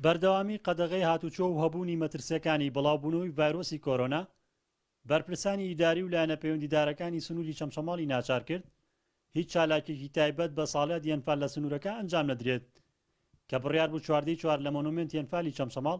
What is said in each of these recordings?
بەردەوامی قەدەغەی هاتووچۆ و هەبوونی مەترسییەکانی بڵاوبوونەوەی ڤایرۆسی کۆرۆنا، بەرپرسانی ئیداری و لایەنە پەیوەندیدارەکانی سنووری چەمچەماڵی ناچار کرد هیچ چالاکییەکی تایبەت بە ساڵیادی ئەنفال لە سنوورەکە ئەنجام نەدرێت کە بڕیار بوو چواردەی چوار لە مۆنۆمێنتی ئەنفالی چەمچەماڵ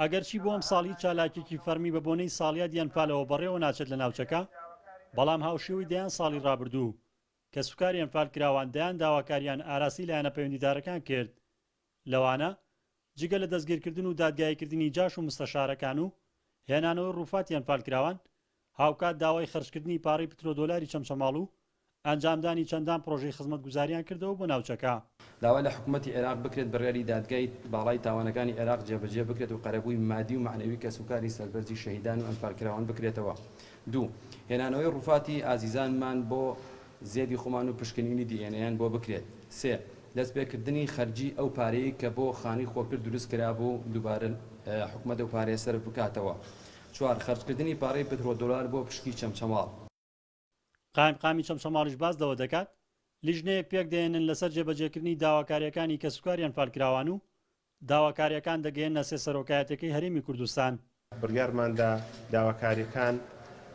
ئەگەرچی بۆ ئەمساڵ هیچ چالاکییەکی فەرمی بە بۆنەی ساڵیاد یان فالەوە بەڕێوە ناچێت لە ناوچەکە، بەڵام هاوشێوەی دەیان ساڵی رابردوو، کەسوکاریان فالکراوان دەیان داواکارییان ئاراستەی لایەنە پەیوەندیدارەکان کرد، لەوانە، جگە لە دەستگیرکردن و دادگاییکردنی جاش و مستەشارەکان و هێنانەوەی رووفاتیان فالکراوان، هاوکات داوای خەرجکردنی پارەی پترۆدۆلاری چەمچەماڵ و ئەنجامدانی چەندان پڕۆژەی خزمەتگوزاریان کردەوە بۆ ناوچەکە. داوا لە حکومەتی عێراق بکرێت بڕیاری دادگای باڵای تاوانەکانی عێراق جێبەجێ بکرێت و قەرەبووی مادی و مەعنەوی کەسوکاری سەربەرزی شەهیدان و ئەنفالکراوان بکرێتەوە دوو هێنانەوەی ڕوفاتی ئازیزانمان بۆ زێدی خۆمان و پشکنینی دی ئێن ئێیان بۆ بکرێت سێ دەستپێکردنی خەرجی ئەو پارەی کە بۆ خانووی خۆگر دروست کرابوو دووبارە حکومەت ئەو پارەیە سەرف بکاتەوە چوار، خەرجکردنی پارەی پترۆ دۆلار بۆ پشکی چەمچەماڵ. قایمقامی چەمچەماڵیش باس لەوە دەکات، لیژنەیەک پێک دەهێنن لەسەر جێبەجێکردنی داواکارییەکانی کەسوکاریان فالکراوان و داواکارییەکان دەگەیەننە سێ سەرۆکایەتیەکەی هەرێمی کوردستان. بڕیارماندا داواکارییەکان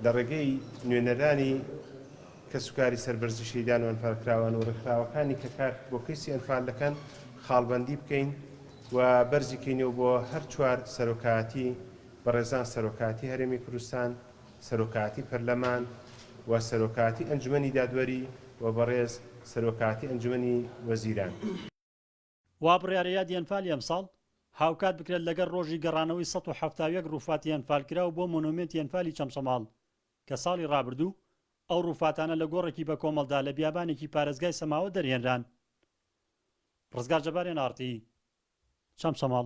لە ڕێگەی نوێنەرانی کەسوکاری سەربەرزی شەهیدان و ئەنفالکراوان و ڕێکخراوەکانی کە کار بۆ کەیسی ئەنفال دەکەن خاڵبەندی بکەین و بەرزی کەینەوە بۆ هەر چوار سەرۆکایەتی بەڕێزان سەرۆکایەتی هەرێمی کوردستان، سەرۆکایەتی پەرلەمان و سەرۆکایەتی ئەنجومەنی دادوەری و بەڕێز سەرۆکایەتی ئەنجومەنی وەزیران. وا بڕیارە یادی ئەنفالی ئەمساڵ هاوکات بکرێت لەگەڵ ڕۆژی گەڕانەوەی سەد و حەفتا و یەک ڕووفاتی ئەنفالکراو بۆ مۆنۆمێنتی ئەنفالی چەمچەماڵ کە ساڵی ڕابردوو ئەو ڕووفاتانە لە گۆڕێکی بەکۆمەڵدا لە بیابانێکی پارێزگای سەماوە دەرهێنران. ڕزگار جەباریان ئاڕتی چەمچەماڵ.